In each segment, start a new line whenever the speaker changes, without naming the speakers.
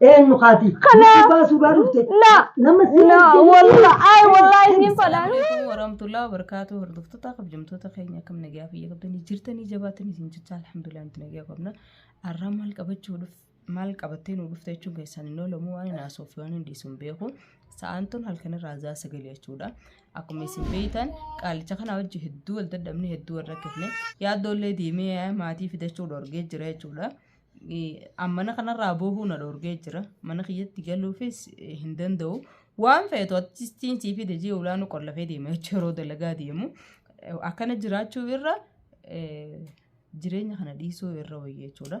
Eenyu kaati? Kana. Baasuu baa dhufte. Na. Nama si
Na. Walla. Ay walla inni fadha. Assalamualaikum warahmatullahi
wabarakatuh hordoftoota kabajamtoota keenya akkam nagaa fayya qabdanii jirtanii jabaatanii isin jechaa alhamdulillah nuti nagaa qabna arraa maal qabachuu dhuf maal qabattee nu dhufte jechuun keessaan hin oolamu waan hin haasoo fi waan hin dhiisu hin beeku sa'aan tun halkan irraa zaa sagalee jechuudha akkuma isin beektan qaalicha kanaa wajji hedduu wal dadhabne hedduu wal rakkifne yaaddoollee deemee maatii fidachuu dhorgee jira jechuudha Mana kanarraa boohuu na dhoorgee jira. Mana kiyyatti galuufis hin danda'u. Waan feetu achiin sii fide jee ulaanuu qollafee deema jechuudha yeroo dalagaa deemu. Akkana jiraachuu irra jireenya kana dhiisuu irra wayya jechuudha.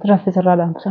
Tiraafis
irraa dhaamsa.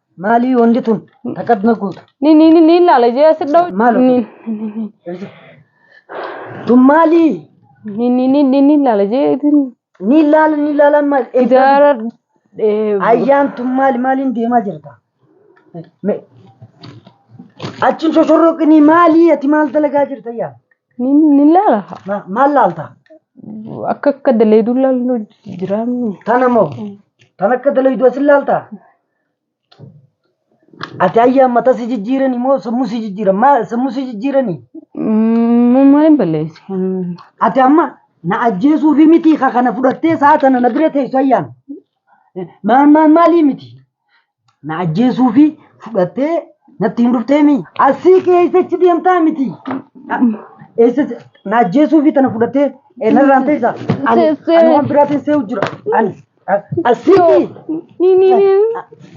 Maalii wanti tun takkatti na guutu. Ni ni ni ni ilaala
jee asi dha'u. Maal Ni hojii?
Tun maalii? ni ni ni ni
ni ilaala jee isin Ni ilaala
ni ilaalaan maal? ijaara
eh,
Ayyaan tun maali maaliin deemaa jirta? Me- Achiin shoshorroqinii maalii ati maal dalagaa jirta ayyaa? ni ni ilaala
Ma- Maal laalta?
akka akka
daleeduu ilaallu jiraannu. Tana moo?
Tan akka dalayduu asin laalta? Ati ayyaa mataa si jijjiirani moo sammuu si jijjiiran? Maa sammuu si jijjiirani? Mummaan
balleessi. Ati amma
na ajjeesuu fi miti ka kana fudhattee sa'a tana na bira teessu ayyaan. Maan maan maalii miti? Na ajjeesuu fi fudhattee natti hin dhuftee mi? Asii kee eessa achi deemtaa miti? Eessa na ajjeesuu fi tana fudhattee narraan teessa? Ani waan biraatiin see'u jira. Ani. Asitti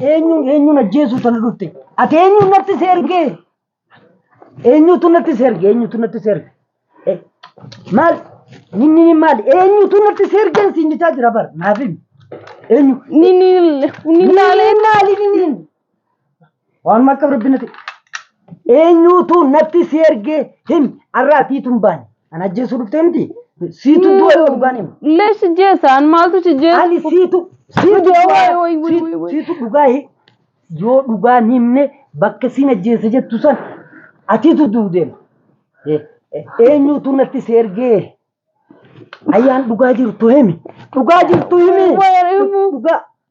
eenyuun eenyuun ajjeesuu tana dhufte. Ati eenyuun natti si ergee? Eenyuutu natti si erge? Eenyuutu natti si erge? Eh, Maal? Inni inni maali? Eenyuutu natti si erge siin jechaa jira bar. Naaf himi. Eenyu? Nini
maali
nini? Waan akka rabbi nati. Eenyuutu natti si ergee him arraatii tun baane. An ajjeesuu dhuftee miti. Siitu du'a yoo dhugaan hima. Lees si jeessa an
maaltu si jeessa. Ani siitu siitu
Wayyo, du'a wayyo, wayyo, wayyo, siitu- wayyo. siitu dhugaa hi- yoo dhugaan himne bakka siin ajjeessa jettu san atiitu du'u deema. Eh, eh, Eenyuutu natti si ergee ayyaan dhugaa jirtu himi. Dhugaa jirtu himi. Wayyo, himi. Dhugaa.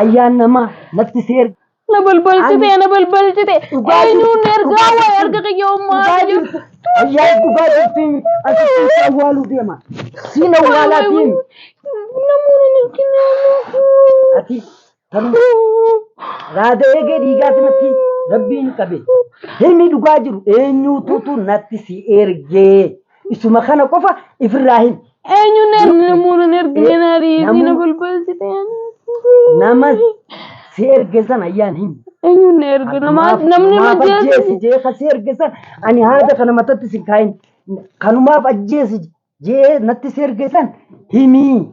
Ayyaan namaa natti si erga. Na balbalchite,
na balbalchite. Dhugaa jirtu, Eenyuun ergaa dhugaa waa'ee jirtu. erga kiyya ummaa Dhugaa kiyya. jirtu. Ayyaan
dhugaa jirtu himi. Asitti si awwaaluu deema. Siin awwaalaa deemi. Namoonni
hin argine ammoo. Ati
tanuma raada eegee dhiigaati natti rabbiin qabe. Himi dhugaa jiru eenyuututu natti si ergee. Isuma kana qofa ifirraa himi. Eenyuun namuun
hin ergine naarii isiina Namuu- balbalsite. Nama
si erge san ayyaan himi. Eenyuun na erge
namaa namni Maaf majeessi. ajjeesi jee
kan si erge san ani haada kana matatti si kaayin. Kanumaaf ajjeesi jee natti si erge san himi.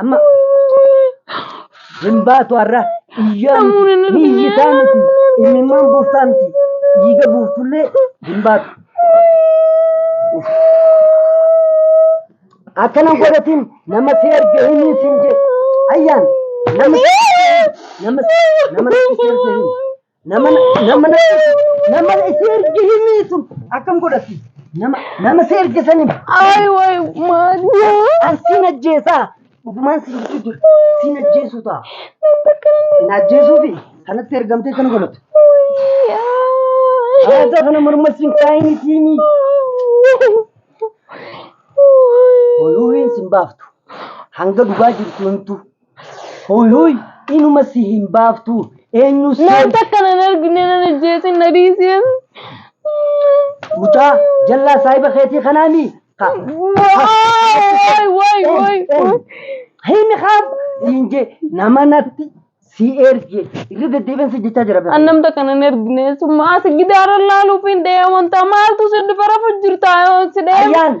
Amma hin baatu har'a iyyaa miti ni iyyitaa miti imimmaan buuftaa miti dhiiga buuftullee hin baatu. Akkana godhatiin nama si erge himiin siin jee ayyaan nama si erge himi. nama nama nama si erge himi. Nama nama nama si erge himi sun akkam godhatti? Nama nama si erge san himi. Ay way
maali. An siin
ajjeesaa. Dhugumaan siin jechuu jira. Siin ajjeesuu ta'a. Siin ajjeesuu fi kanatti ergamtee kan godhatu. Haata kana morma siin kaayini tiimi. Oluu hin siin baaftu. Hanga dhugaa jirtu himtu. Hooy hooy inuma si hin baaftu eenyu seen. Naan takka nan argine
nan ajjeesin na dhiisin. Mucaa
jallaa saahiba keetii kanaa mii? Ka. Waay waay
waay.
Hin haaf siin jee nama natti si erge irra deddeebiin si jechaa jira. An nam takka nan argine
summa as gidaara laaluuf hin dhee amantaa maaltu si dhufara jirtaa si dhee. Ayyaan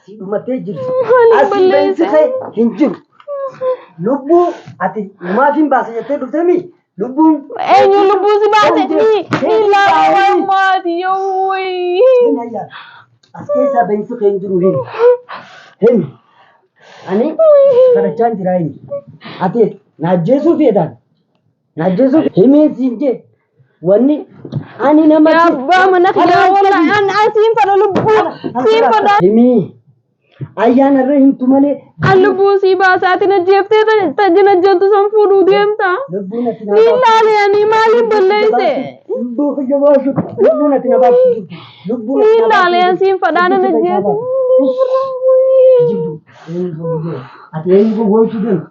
Asii dhumattee jirti. Ani Asii balleessa. beeksisa kee hin jiru. Lubbuu ati maatiin baase jettee dhufteemi lubbuun. Eenyu lubbuu
si baase ni ni laala maati yoo Hin wayii. hayyaa.
As keessaa beeksisa kee hin jiru hin. Hin. Ani kadhachaan jiraa hin. Ati na ajjeesuu feetaan. Najjesu himee siin jee. Wanni ani nama Yaa abbaa mana kiyyaa
wallahi an an siin fadha lubbuu siin fadha. Himii.
Ayyaana irra himtu malee. An lubbuu sii
baasaatiin ajjeeftee tajjin ajjeeltu san fuudhuu deemta. Lubbuun ati Ni
ilaali ani
maaliin balleesse. Lubbuu kiyya
baasu. Lubbuun ati na baasu. Lubbuun Ni ilaali an siin
fadhaa nan ajjeesu.
Ati eenyu gowwoomsuu deemta?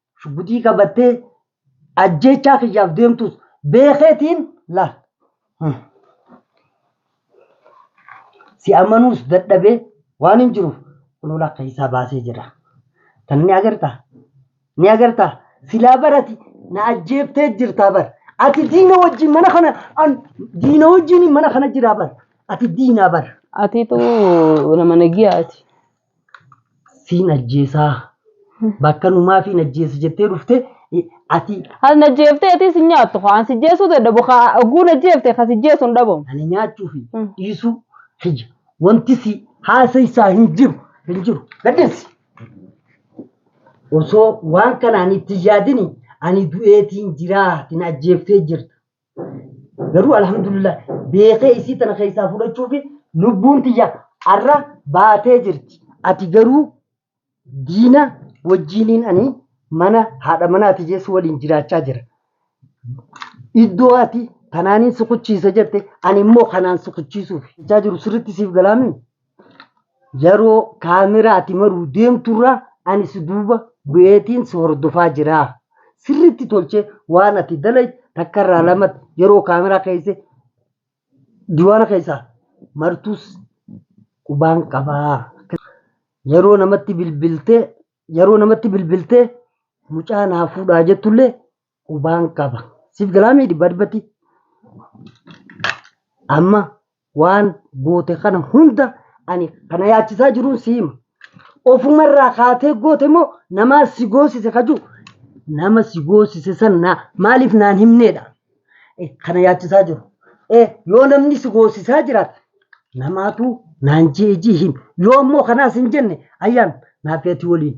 shugguxii qabattee ajjeechaa kiyyaaf deemtus beekeetiin laal. Si amanuus dadhabee waan hin jiruuf kunoo lakka isaa baasee jira. Tana ni agartaa? Ni agartaa? Silaa barati na ajjeeftee jirtaa bar. Ati diina wajjin mana kana an diina wajjin mana kana jiraa bar. Ati diinaa bar. Atiitu
nama nagiyaati.
Siin ajjeesaa. Bakka numaafii hin ajjeesa jettee dhufte ati. Kan ajjeeftee
atii si nyaattu kan si jeesuu dadhabu kan ogguun ajjeefte kan si jeesu hin dhabamu. Ani nyaachuu fi
dhiisuu kiyya wanti si haasaysaa hin jiru hin jiru gaddeessi. Osoo waan kanaan itti yaadini ani du'eetiin jiraa ati na ajjeeftee jirta. Garuu alhamdulillah beekee isii tana keessaa fudhachuu fi lubbuun tiyya arra baatee jirti. Ati garuu diina wajjiiniin ani mana haadha manaa tiyyeessu waliin jiraachaa jira. Iddoo ati tanaaniin sukuchiisa jette ani immoo kanaan sukuchiisuuf jechaa jiru sirriitti siif galaamii? Yeroo kaameraa ati maruu deemturra ani si duuba bu'eetiin si hordofaa jira. Sirriitti tolchee waan ati dalaydu takkarraa lamatti yeroo kaameraa keessa diiwaana keessa martus qubaan qabaa. Yeroo namatti bilbiltee yeroo namatti bilbiltee mucaa naa fuudhaa jettullee qubaan qaba. Siif galaamee dhibbaa dhibbatti amma waan goote kana hunda ani kana yaachisaa jiruun si hima. Ofumarraa kaatee goote moo namaa si goosise kajuu nama si goosise san naa maaliif naan himneedha Eh, kana yaachisaa jiru. Eh, Yoo namni si goosisaa jiraate namaatu naan jeejii him yoo ammoo kanaas hin jenne ayyaan naafeetii waliin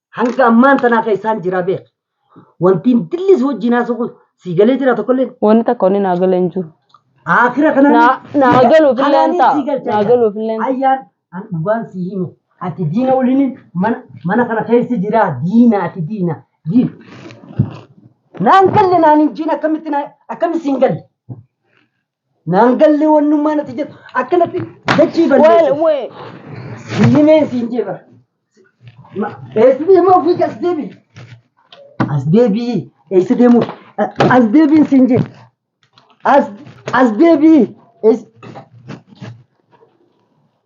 Hanga ammaan
tanaa kan isaan jiraa beek. Wantiin dillis wajjin haasa'u kun sii galee jira tokkolleen. Wanni takka wanni naa galee
hin jiru. Akira kana
Naa- naa galuuf illee
hin ta'a. Naa galuuf illee hin ta'a. Ayyaan an
dhugaan si himu. Ati diina waliin mana mana kana keessa jira diina ati diina. Diin. Naan galle naan hin jiin akkamitti naa akkamitti siin galle. Naan gallee wannummaa natti jettu akkanatti dachii Wal balleessu. wee. Himeen siin jeefa. Eessa deemaa ofii as deebi. As deebi. Eessa deemuu? As deebiin siin jee. As as deebi. Eessa